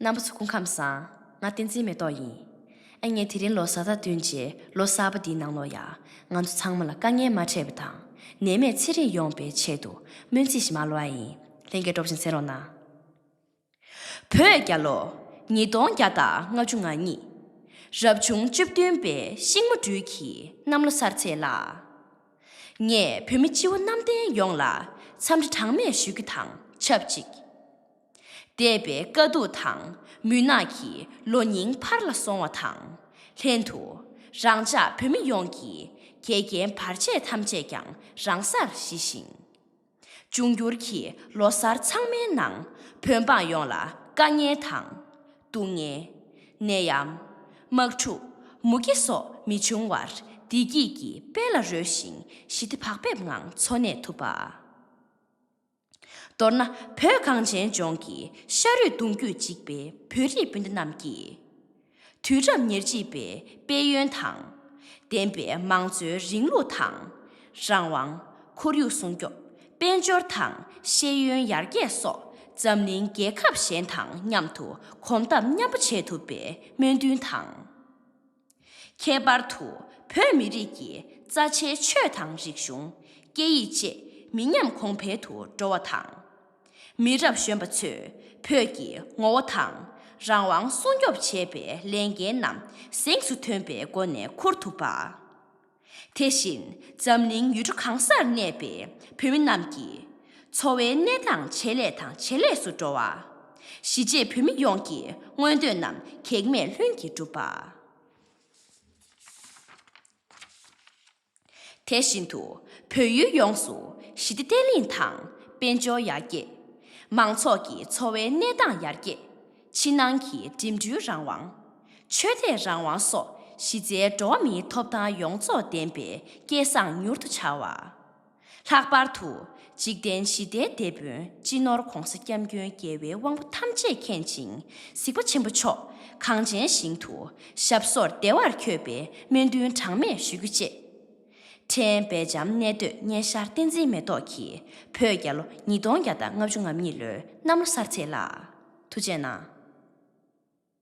སྣམ་བུ་ཚོ་སྐུ་ཁམས་བཟང། ང་བསྟན་འཛིན་མེ་ཏོག་ཡིན། ཨ་མྱེས་དེ་རིང་ལོ་གསར་དང་བསྟུན་རྗེས་ལོ་གསར་པ་འདིའི་ནང་ལོ་ཡག་ང་ཚོ་ཚང་མ་ལ་དཀའ་ངལ་མ་འཕྲད་པ་དང་ནད་མེད་ཚེ་རིང་ཡོང་པའི་ཆེད་དུ་སྨོན་ཚིག་ཞིག་མ་ལོ་ཨ་ཡིན་ལྷན་རྒྱས་སྒྲོག་ཅིང་གསན་རོགས་གནང། བོད་རྒྱ་ལོ་ཉིས་སྟོང་བརྒྱ་དང་ལྔ་བཅུ་ང་གཉིས། རབ་བྱུང་བཅུ་བདུན་པའི་ཤིང་མོ་སྦྲུལ་གྱི་གནམ་ལོ་གསར་ཚེས་ལ། ངས་བོད་མི་སྤྱི་བོ་གནམ་བསྟན་ཡོངས་ལ་འཚམས་འདྲི་གྲངས་མེད་ཞུ་རྒྱུ་དང་ཆབས་ཅིག། འདས་པའི་དཀའ་སྡུག་དང་མུན་ནག་གི་ལོ་རྙིང་ཕར་ལ་སོང་བ་དང་ལྷན་དུ། རང་ཅག་བོད་མི་ཡོངས་ཀྱི་དགེ་རྒན་བར་ཆད་ཐམས་ཅད་ཀྱང་རང་སར་ཞི་ཞིང། འབྱུང་འགྱུར་གྱི་ལོ་གསར་ཚང་མའི་ནང་བོད་འབངས་ཡོངས་ལ་དཀའ་ངལ་དང། སྡུག་བསྔལ། ནད་ཡམས། དམག་འཁྲུག། མུ་གེ་སོགས་མི་འབྱུང་བར་བདེ་སྐྱིད་ཀྱི་དཔལ་ལ་རོལ་ཞིང་ཞི་བདེ་བག་ཕེབས་ངང་འཚོ་གནས་ཐུབ་པ། མདོར་ན་བོད་གངས་ཅན་ལྗོངས་ཀྱི་ཤ་རུས་གདུང་རྒྱུད་གཅིག་པའི་བོད་རིགས་སྤུན་ཟླ་རྣམས་ཀྱིས། དུས་རབས་ཉེར་གཅིག་པའི་དཔལ་ཡོན་དང་ལྡན་པའི་མང་གཙོའི་རིང་ལུགས་དང། རང་དབང། ཁོར་ཡུག་སྲུང་སྐྱོབ། དཔལ་འབྱོར་དང་ཤེས་ཡོན་ཡར་རྒྱས་སོགས་འཛམ་གླིང་རྒྱལ་ཁབ་གཞན་དང་མཉམ་དུ་གོམ་སྟབས་མཉམ་པོ་འབྱེད་ཐུབ་པའི་སྨོན་འདུན་དང། ཁྱད་པར་དུ་བོད་མི་རིགས་ཀྱི་རྩ་ཆེའི་ཆོས་དང་རིག་གཞུང། སྐད་ཡིག་བཅས་མི་ཉམས་གོང་འཕེལ་དུ་འགྲོ་བ་དང། མི་རབས་གཞོན་པ་ཚོས་བོད་ཀྱི་ངོ་བོ་དང་རང་དབང་སྲུང་སྐྱོབ་བྱེད་པའི་ལས་འགན་རྣམས་གཟེངས་སུ་ཐོན་པའི་སྒོ་ནས་འཁུར་ཐུབ་པ། དེ་བཞིན་འཛམ་གླིང་ཡུལ་གྲུ་གང་སར་གནས་པའི་བོད་མི་རྣམས་ཀྱི་འཚོ་བའི་གནས་སྟངས་ཇེ་ལེགས་དང་ཇེ་ལེགས་སུ་འགྲོ་བ། གཞིས་བྱེས་བོད་མི་ཡོངས་ཀྱི་མངོན་འདོད་རྣམས་གེགས་མེད་ལྷུན་གྱིས་འགྲུབ་པ། དེ་བཞིན་དུ་བོད་ཡུལ་ཡོངས་སུ་ཞི་བདེ་བརྟན་ལྷིང་དང་དཔལ་འབྱོར་ཡར་རྒྱས། མང་ཚོགས་ཀྱི་འཚོ་བའི་གནས་སྟངས་ཡར་རྒྱས། ཕྱི་ནང་གི་འགྲིམ་འགྲུལ་རང་དབང། ཆོས་དད་རང་དབང་སོགས་གཞི་རྩའི་འགྲོ་བ་མིའི་ཐོབ་ཐང་ཡོངས་རྫོགས་ལྡན་པའི་སྐལ་བཟང་མྱུར་དུ་འཆར་བ། ལྷག་པར་དུ་འཇིག་རྟེན་ཞི་བདེའི་དེད་དཔོན་སྤྱི་ནོར ྋགོང་ས ྋསྐྱབས་མགོན་རྒྱལ་བའི་དབང་པོ་ཐམས་ཅད་མཁྱེན་ཅིང་གཟིགས་པ་ཆེན་པོ་མཆོག་གངས་ཅན་ཞིང་དུ་ཞབས་སོར་བདེ་བར་འཁྱོད་པའི་སྨོན་འདུན་གྲངས་མེད་ཞུ་རྒྱུ་བཅས། ཁྲེན་པེ་འཇམ་གནས་སྡོད་བརྙན་ཤར་བསྟན་འཛིན་མེ་ཏོག་གིས་བོད་རྒྱ་ལོ་ཉིས་སྟོང་བརྒྱ་དང་ལྔ་བཅུ་ང་གཉིས་ལོའི་གནམ་ལོ་གསར་ཚེས་ལ། དུ་བྱས་ན།